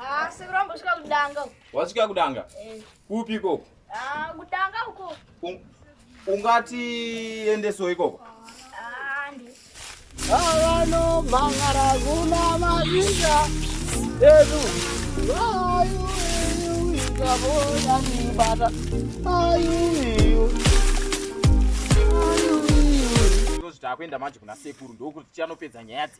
Ah, sekuru ambosvika kudanga. Wasvika kudanga? Eh. Kupi ikoko? Ah, kudanga uko. Un ungati endeso ikoko? Ah, ndi. Avano mangara kuna mazinga. Edu. Ayu, ayu, ikabona nibata. Ayu, ayu. Ayu, ayu. Ndozvitakuenda manje kuna sekuru ndokuti chanopedza nyaya dzi.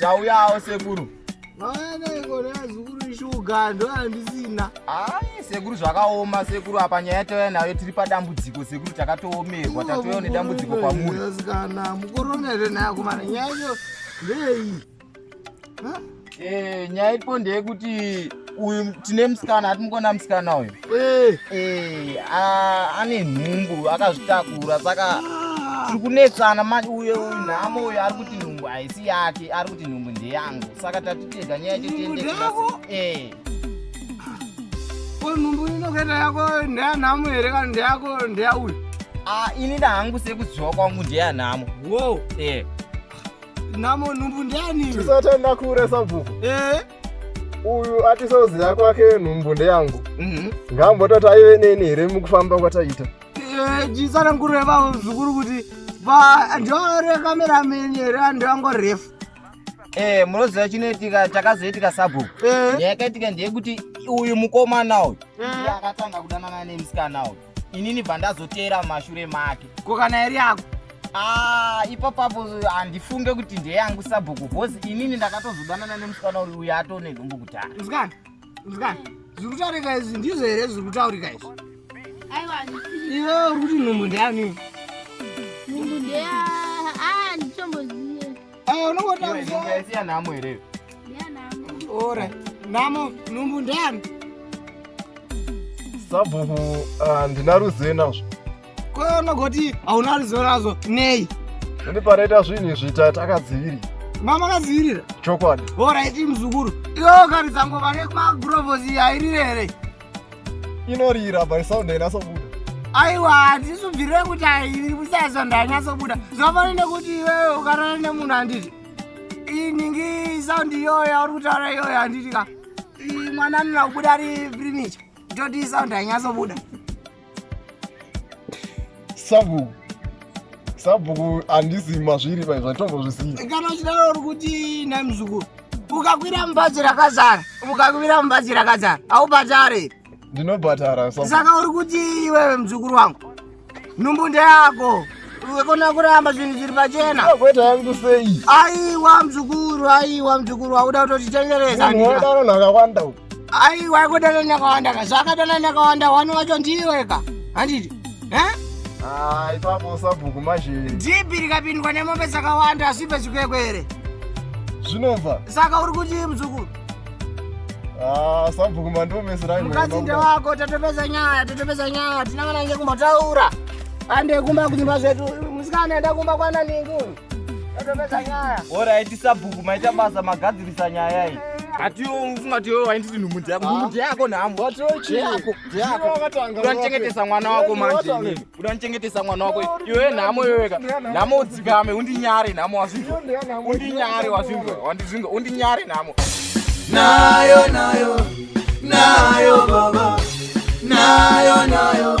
Tauyawo sekuru. Mwana ikona zukuru shuga ndo andisina. Ai sekuru zvakaoma sekuru apa nyaya tauya nayo tiri padambudziko sekuru takatoomerwa tatouya nedambudziko kwamuri. Kana mukoromere nayo kumana nyaya iyo ndeyei. Eh nyaya ipo ndeyekuti uyu tine musikana atimukona musikana uyu eh. Eh, ane nhumbu akazvitakura saka tiri kunetsana manje uye uyu nhamo uyu ari kuti nhumbu haisi yake ari kuti nhumbu ndeyangu saka tatitega nyaya chetiendeko eh. nhumbu inokaita yako ndeyanhamo here kana ndeyako ndeyauyu ah, ini ndahangu sekuziva kwangu ndeyanhamo wo nhamo nhumbu ndeyani tisatenda kuuresa bvuku uyu atisoziva kwake nhumbu ndeyangu mhm. ngambototi aive neni here mukufamba kwataita eh, jisananguro yevavo zvikuru kuti ndiore kamerameni here andivango refu eh, munoziva chinoitika chakazoitika sabhuku eh. yakaitika ndeyekuti uyu mukomana uyu akatanga kudanana nemusikana uyu inini bva ndazoteera mumashure make ko kana iri yako ah, ipapapo handifunge kuti ndeyangu sabhuku bhozi inini ndakatozodanana nemusikana uri uya atone nhumbu kudhara musikana musikana zviri kutaurika izvi ndizvo here zviri kutaurika izvi iwe uri kuti nhumbu ndeyani nhumbu ndeya ah, Ah, unongotaura nhamo here? Ora, nhamo nhumbu ndeyani? Sabhuku ah, ndina ruzivo nazvo. Ko unogoti hauna ruzivo nazvo nei? Ini panoita zvinhu izvi takadzivirira. Mama kadzivirira? Chokwadi. Ora iti muzukuru. Iyo kari dzango vane magurovosi yairire here? inorira by sound ainasobuda aiwa hatisu bviro yekuti airi kusaya sound ainasobuda zvafana nekuti iwewe ukarara nemunhu handiti iningi sound iyoyo yauri kutaura iyoyo handiti ka mwana anoda kubuda ari primicha toti sound ainyasobuda sabhuku sabhuku handisi mazviri pai zvatombozvisiya kana uchidaro uri kuti nai muzukuru ukakwira mubhazi rakazara ukakwira mubhazi rakazara haubhatare here ndinobhatara saka uri kuti iwewe muzukuru wangu nhumbu ndeyako wekona kuramba zvinhu zviri pachena kweta yangu sei aiwa muzukuru aiwa muzukuru wauda kutotitengereza ndinodanonhu akawanda uku aiwa kudana nakawanda ka zvakadana nakawanda wani wacho ndiwe ka handiti ah, ipapo sabhuku manje dhipi rikapindwa nemombe dzakawanda azvipe zvikwekwere zvinobva saka uri kuti muzukuru ah, sabhuku mandomeseramukadzinde wako tatopedza nyaya tatopedza nyaya tina vana nge kumbotaura ande kumba kunyumba zvedu musikana enda kumba kwana ningu Alright, sabhuku maita basa magadzirisa nyaya iyi. Ati yo ufunga ti yo wainditi nhumudzi yako. Nhumudzi yako nhambo. Wati yo chi yako. Yako. Udanichengetesa mwana wako manje. Udanichengetesa mwana wako. Iwe nhamo iwe weka. Nhamo udzikame undinyare nhamo wazvinzwa. Undinyare wazvinzwa. Wandizvinzwa. Undinyare nhamo. Nayo nayo. Nayo baba. Nayo nayo.